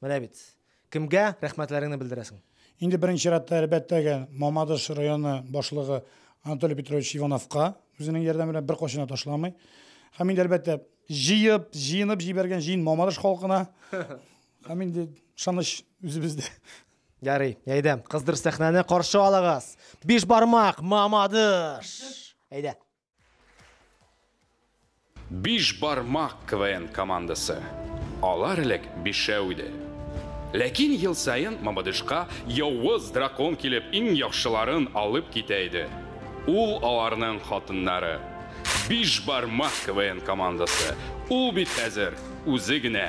Менә бит. Кемгә рәхмәтләреңне белдерәсең? Инде беренче чиратта, әлбәттәге, Мамадыш районы башлыгы Анатолий Петрович Ивановка, үзенең ярдәме белән беркайчан да ташламый. Һәм инде, әлбәттә, җыеп, җыенып җибәргән җыен Мамадыш халкына. Һәм инде ышаныч үзебездә. Ярый, әйдә, кыздыр сәхнәне, каршы алыгыз! Биш бармак, Мамадыш! Әйдә. Биш бармак КВН командасы. Алар элек бишәү иде. Ләкин ел саен Мамадышка явыз дракон килеп иң яхшыларын алып китә иде. Ул аларның хатыннары. Биш бармак КВН командасы. Ул бит хәзер үзе генә.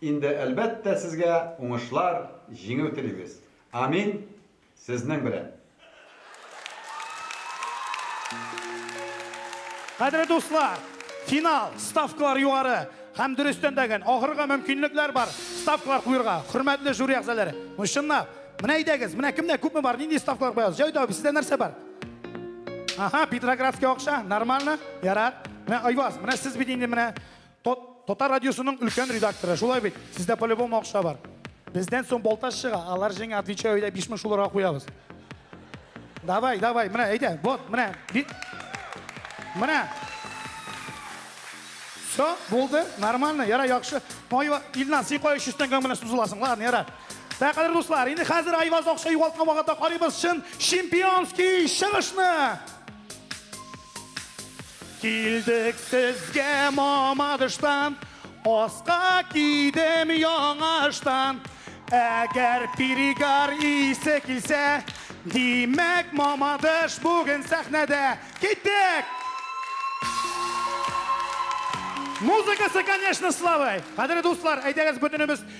Инде әлбәттә сезгә уңышлар, җиңү телибез. Амин! Сезнең белән! Кадерле дуслар! Финал! Ставкалар югары! Һәм дөрестән дә гэн, ахырга мөмкинлекләр бар ставкалар куерга, хөрмәтле жюри әгъзаләре! Ну чынлап! Менә әйдәгез, менә кемдә күпме бар, нинди ставкалар куябыз? Җәүдә абый, сездә нәрсә бар? Аһа, Петроградский акча, нормально, ярар. Менә Айваз, менә сез бит инде менә Татар радиосының өлкән редакторы, шулай бит? Сездә по-любому акча бар. Бездән соң Балтач чыга, алар җиңә, отвечаю, әйдә 5000 шуларга куябыз. Давай, давай, менә, әйдә, вот, менә. Менә. Все, булды, нормально, яра, яхшы. Айва, Илназ, син кая 300 тәңгәң белән сузыласың, ладно, яра. Ә кадер дуслар, инде хәзер Айваз акча югалткан вакытта карыйбыз чын чемпионский чыгышны. Килдек сезгә мамадыштан, Аска кидем яңаштан. Әгәр перегар исе килсә, Димәк, мамадыш бүген сәхнәдә. Киттек! Музыкасы, конечно, славай! Кадерле дуслар, әйдәгез, бөтенебез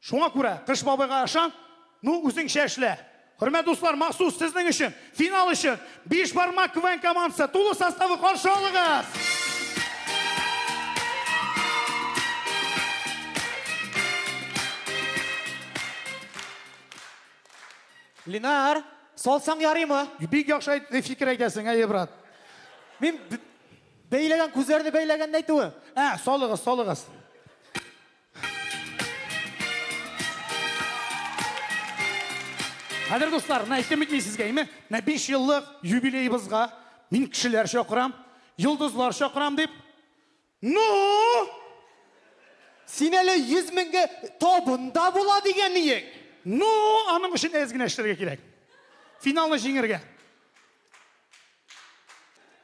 Шуңа күрә Кыш бабайга ышан, ну, үзеңчә эшлә. Хөрмәт дуслар, махсус сезнең өчен, финал өчен Биш бармак КВН командасы тулы составы каршы алыгыз! Линар, салсаң ярыймы? Бик яхшы фикер әйтәсең, әйе, брат. Мин бәйләгән, күзләрне бәйләгәнне әйтүе. Ә, салыгыз, салыгыз. Хәзер дуслар, менә әйтем бит мин сезгә, име? Менә 5 еллык юбилеебызга мин кешеләр чакырам, йолдызлар чакырам дип. Ну! Син әле 100 меңгә табында була дигән иең. Ну, аның өчен әз генә эшләргә кирәк. Финалны җиңергә.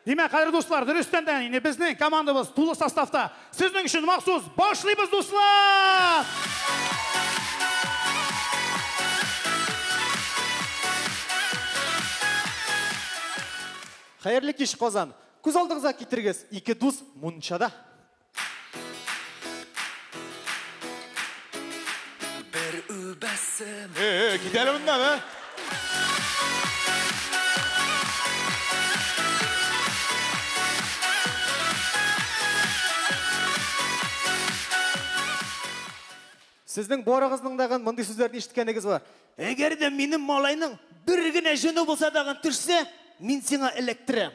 Димәк, кадерле дуслар, дөрестән дә инде безнең командабыз тулы составта. Сезнең өчен махсус башлыйбыз, дуслар! Хәерле кич, Казан! Күз алдыгызга китерегез, ике дус мунчада. Бер үбәсем. Э, э, китәле моннан, ә? Сезнең барыгызның дагын мондый сүзләрне ишеткәнегез бар. Әгәр дә минем малайның бер генә җене булса дагын төшсә, мин сиңа эләктерәм.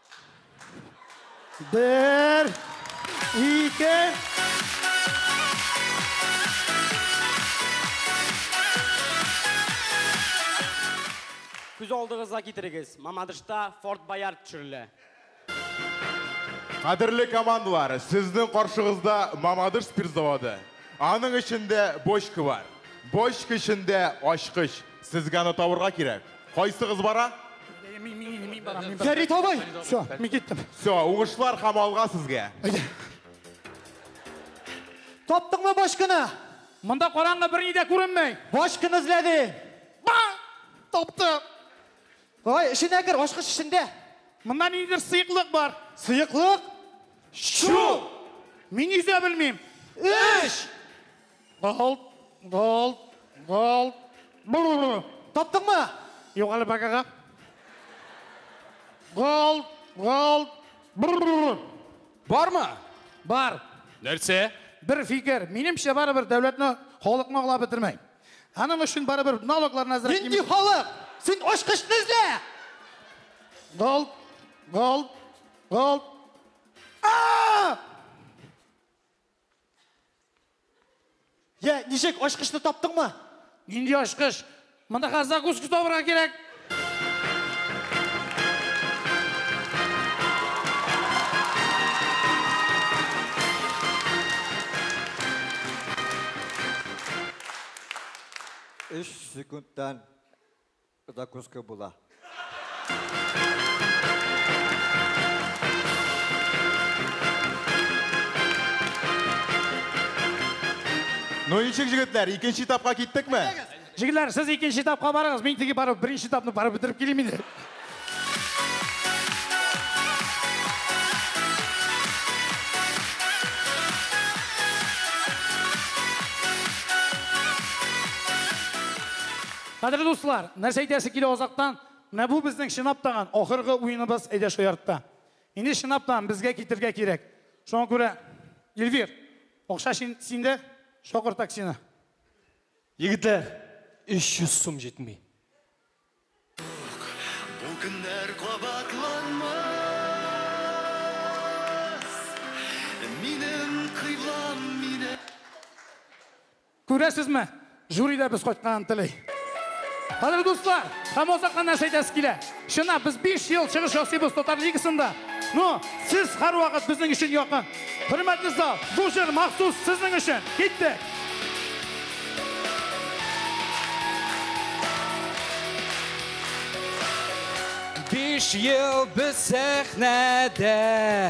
Бер, ике. Күз алдыгызга китерегез, Мамадышта Форт Боярд төшерелә. Кадерле командалар, сезнең каршыгызда Мамадыш спирт заводы. Аның эчендә бочка бар. Бочка эчендә ачкыч. Сезгә аны табырга кирәк. Кайсыгыз бара? Мин, мин, мин барам, мин барам. Фәрит абый! Все, мин киттем. Все, уңышлар һәм алга сезгә. Әйдә. Таптыңмы башканы? Монда караңгы берни дә күренмәй. Башканы эзләдең. Ба! Таптым. Ай, эченә кер, ачкыч эчендә. Монда ниндидер сыеклык бар. Сыеклык? Чу! Мин йөзә белмим. Эш! Голт, голт, голт. Бррр. Таптыңмы? Юк әле бакага. Голт, голт. Бррр. Бармы? Бар. Нәрсә? Бер фикер. Минемчә барыбер дәүләтне халыкны аңлап бетермәй. Аның өчен барыбер налогларны әзрәк. Нинди халык? Син очкычны эзлә! Голт, голт, голт. А! Йә, ничек, ачкычны таптыңмы? Нинди ачкыч? Монда хәзер закуска табырга кирәк. Өч секундтан Закуска була. Ну, ничек, җегетләр, икенче этапка киттекме? Җегетләр, сез икенче этапка барыгыз, мин теге барып, беренче этапны барып бетереп килим инде. Кадерле дуслар, нәрсә әйтәсе килә азактан, менә бу безнең чынап таган ахыргы уеныбыз әйдә шул ярдта. Инде чынап таган безгә китергә кирәк. Шуңа күрә, Эльвир, акча синдә, чакыр таксины. Егетләр, 300 сум җитми. Юк, бу көннәр кабатланмас, минем кыйблам мине. Күрәсезме, жюри да без кайтканын тели. Кадерле дуслар, һәм ул сакта нәрсә әйтәсе килә? Чынлап, без биш ел чыгыш ясыйбыз Татар лигасында. Ну, сез һәрвакыт безнең өчен якын. Хөрмәтле зал, бу җыр махсус сезнең өчен! Киттек! Биш ел без сәхнәдә.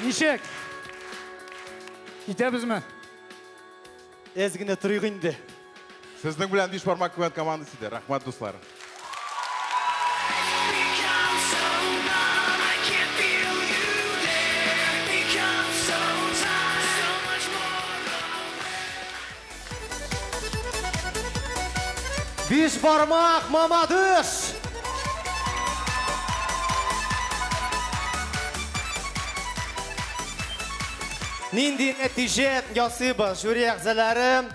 Ничек? Китәбезме? Әз генә торыйк инде. Сезнең белән биш бармак куәт командасы иде. Рәхмәт, дуслар. Биш бармак мамадыш! Нинди нәтиже ясыйбыз, жюри әгзәләре?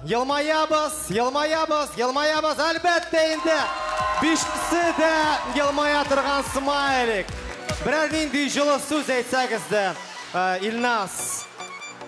Елмаябыз, елмаябыз, елмаябыз, әлбәттә инде. Бишесе дә елмая торган смайлик. Берәр нинди җылы сүз әйтсәгез дә, Илнас.